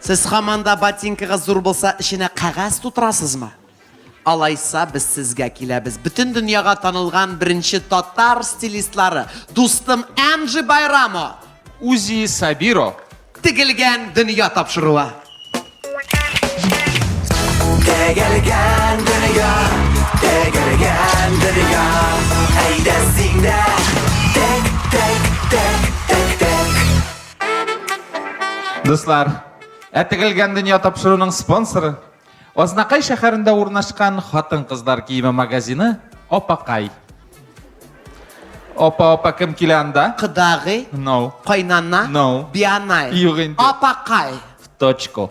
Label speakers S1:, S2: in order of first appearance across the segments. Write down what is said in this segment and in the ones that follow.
S1: Сез хаман да ботинкагыз зур булса, эченә кәгазь тутырасызмы? Алайса без сезгә киләбез. Бөтен дөньяга танылган беренче татар стилистлары, дустым Эмджи Байрамо. Узи Сабиро. Тегелгән дөнья тапшыруы. Тегелгән дөнья, тегелгән дөнья. Әйдә син дә Дуслар, ә тегелгән дөнья тапшыруның спонсоры Азнакай шәһәрендә урнашкан хатын-кызлар киеме магазины Апакай. Апа, апа кем килә анда? Кыдагый, No. кайнана, No. бианай. Юк инде. Апакай. В точку.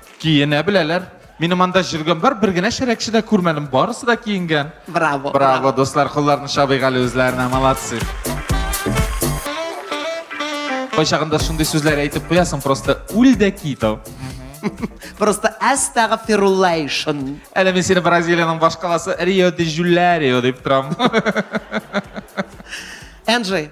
S1: Киенә беләләр. Минем анда җөргән бар, бер генә шәрәкче дә күрмәдем, барысы да киенгән. Браво. Браво, дуслар, кулларны чабыйк әле үзләренә, молодцы. Кайчагында шундый сүзләр әйтеп куясың, просто үл дә кит ау. Просто әстәгфируллайшн. Әле мин сине Бразилиянең башкаласы Рио де Жуларио дип торам. Энджи,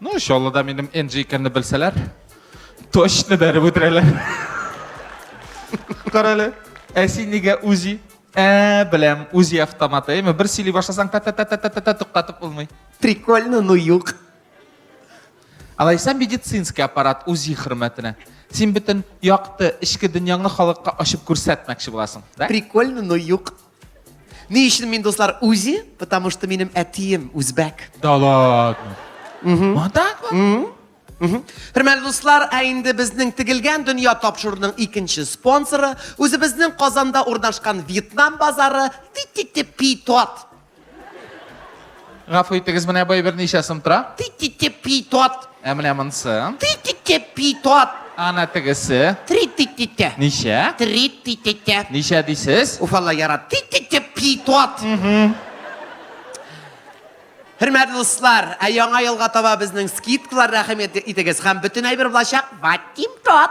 S1: Ну, Чаллыда минем Энджи икәнне белсәләр, точно бәреп үтерәләр. Карале, ә син нигә үзи? Ә, беләм, үзи автоматы, әйме, бер сөйли башласаң, та та та та та та та туктатып булмый. Прикольно, ну юк. Алайса медицинский аппарат үзи хөрмәтенә. Син бөтен якты, эчке дөньяңны халыкка ачып күрсәтмәкче буласың, да? Прикольно, ну юк. Ни өчен мин дуслар үзи? Потому что минем әтием үзбәк. Да ладно. Угу. Хөрмәтле дуслар, ә инде безнең тегелгән дөнья тапшыруның икенче спонсоры, үзебезнең Казанда урнашкан Вьетнам базары Тититипитот. Гафу итегез, менә бай берничә сум тора. Ти-ти-ти питот. Ә менә монсы. Ти-ти-ти питот. Ана тегесе. Три-ти-ти-ти. Ничә? Три-ти-ти-ти. Ничә дисез? Уфалла ярат. Ти-ти-ти питот. Хөрмәтле дуслар, ә яңа елга таба безнең скидкалар рәхим итегез һәм бөтен әйбер булачак. Ватим тот.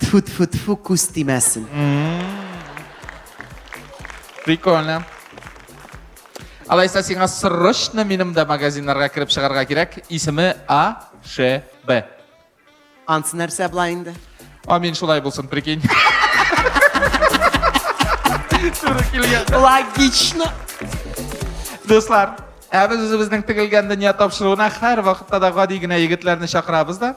S1: Тфу-тфу-тфу, күз тимәсен. Прикольно. Алайса сиңа срочно минем дә магазиннарга кереп чыгарга кирәк. Исеме АШБ. Ансы нәрсә була инде? Амин шулай булсын, прикинь. Туры килгән. Логично. Дуслар, ә без үзебезнең тегелгән дөнья тапшыруына һәр вакытта да гади генә егетләрне чакырабыз да.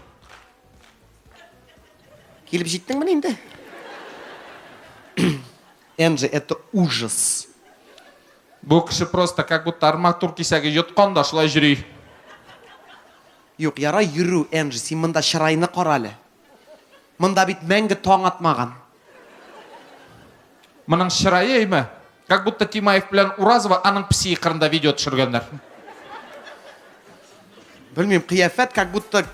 S1: Килеп җиттеңмени инде? Энджи, это ужас. Бу кеше просто как будто арматур кисәге йоткан да шулай җөри. Юк, ярай йөрү, Энджи, син монда чырайны кара әле. Монда бит мәңге таң атмаган. Моның чырае әйме? Как будто Тимаев белән Уразова аның песи кырында видео төшергәннәр. Белмим, кыяфәт как будто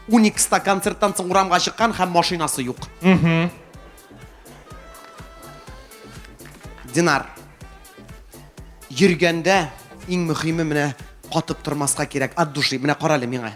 S1: Уникста концерттан соң урамга чыккан һәм машинасы юк. Динар. Йөргәндә иң мөһиме менә катып тормаска кирәк, от души. Менә карале миңа.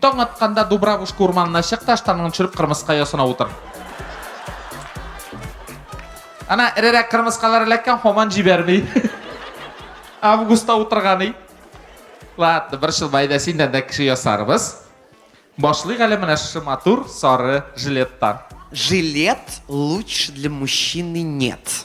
S1: Таң атканда Дубравушка урманына чык та штаныңны төшереп кырмыска ясына утыр. Ана эрерәк кырмыскалар эләккән һаман җибәрми. Августта утырганы. Ладно, бер шыл байда синдән дә кеше ясарбыз. Башлыйк әле менә шушы матур сары жилеттан. Жилет лучше для мужчины нет.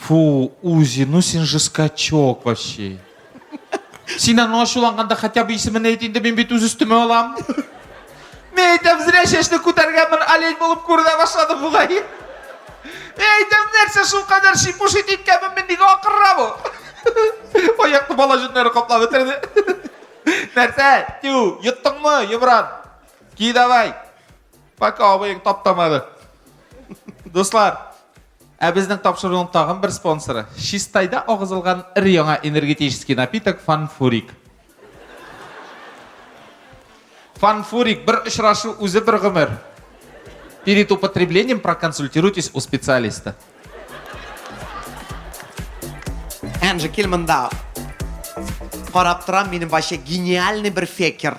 S1: Фу, Узи, ну син же скачок вообще. Син аны ачуланганда хотя бы исемен әйт инде, мин бит үз өстемә алам. Мин әйтәм, зря чәчне күтәргәнмен, олень булып күренә башлады бугай. Мин әйтәм, нәрсә шул кадәр шипушит иткәнмен, мин нигә акырра бу? Аякны бала җеннәре каплап бетерде. Нәрсә? Тю, йоттыңмы, Йомран? Ки давай. Пока абыең таптамады. Дуслар, ә безнең тапшыруның тагын бер спонсоры, Чистайда агызылган ир яңа энергетический напиток Фанфурик. Фанфурик бер очрашу үзе бер гомер. Перед употреблением проконсультируйтесь у специалиста. Энджи, кил монда. Карап торам, минем вообще гениальный бер фекер.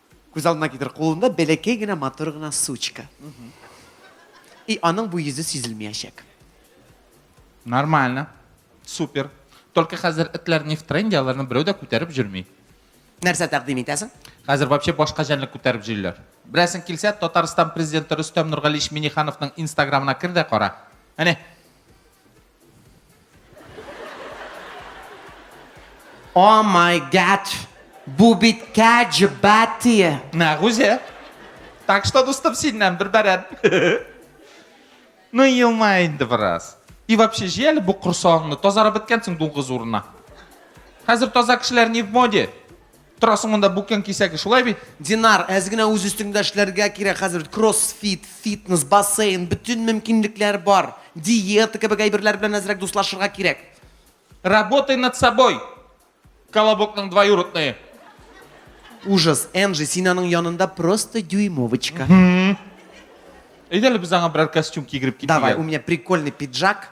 S1: Күз алдына китер, кулында бәләкәй генә матур гына сучка. И аның бу йөзе сизелмәячәк. Нормально. Супер. Только хәзер этләр не в тренде, аларны берәү дә күтәреп җөрми. Нәрсә тәкъдим итәсең? Хәзер вообще башка җәнлек күтәреп җөйләр. Берәсен килсә, Татарстан президенты Рөстәм Нургалиевич Минихановның инстаграмына кер дә кара. Әне. О май гад! Бу бит кәҗ бәтие! Нәгүзә. Так что, дустым, синнән бер бәрән. Ну елма инде бераз. И вообще, җый әле бу корсагыңны, тазарып беткәнсең дуңгыз урынына. Хәзер таза кешеләр не в моде. Торасың монда бүкән кисәге, шулай бит? Динар, әз генә үз өстеңдә эшләргә кирәк хәзер бит, кроссфит, фитнес, бассейн, бөтен мөмкинлекләр бар. Диета кебек әйберләр белән әзрәк дуслашырга кирәк. Работай над собой, Колобокның двоюродные. Ужас, Энжи, син аның янында просто дюймовочка. Әйдә әле без аңа берәр костюм кигереп китик әле. Давай, у меня прикольный пиджак.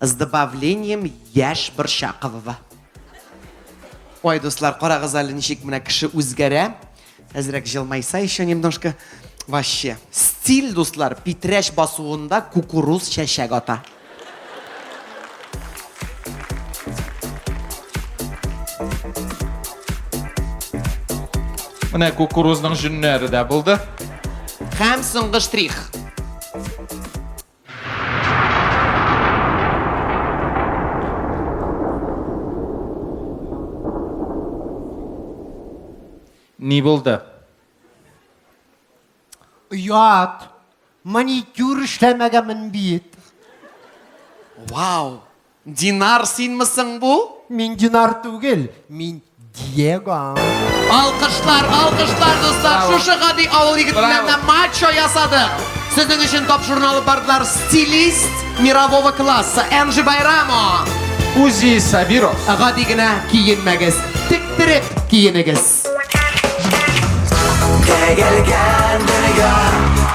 S1: С добавлением яшь Борчаковова. Ой, дуслар, карагыз әле ничек менә кеше үзгәрә. Әзрәк җылмайса еще немножко. Вообще. Стиль, дуслар, питрәч басуында кукуруз чәчәк ата. Менә кукурузның җөннәре дә булды. Һәм соңгы штрих. Ни булды? Оят. Маникюр эшләмәгәнмен бит. Вау! Динар синме соң бу? Мин Динар түгел, мин Диего. Алкышлар, алкышлар, дуслар. Шушы гади авыл егетеннән дә мачо ясадык. Сезнең өчен топ журналы бардылар стилист мирового класса Энджи Байрамо. Узи Сабиро. Гади генә киенмәгез. Тектереп киенегез. Тегелгән дөнья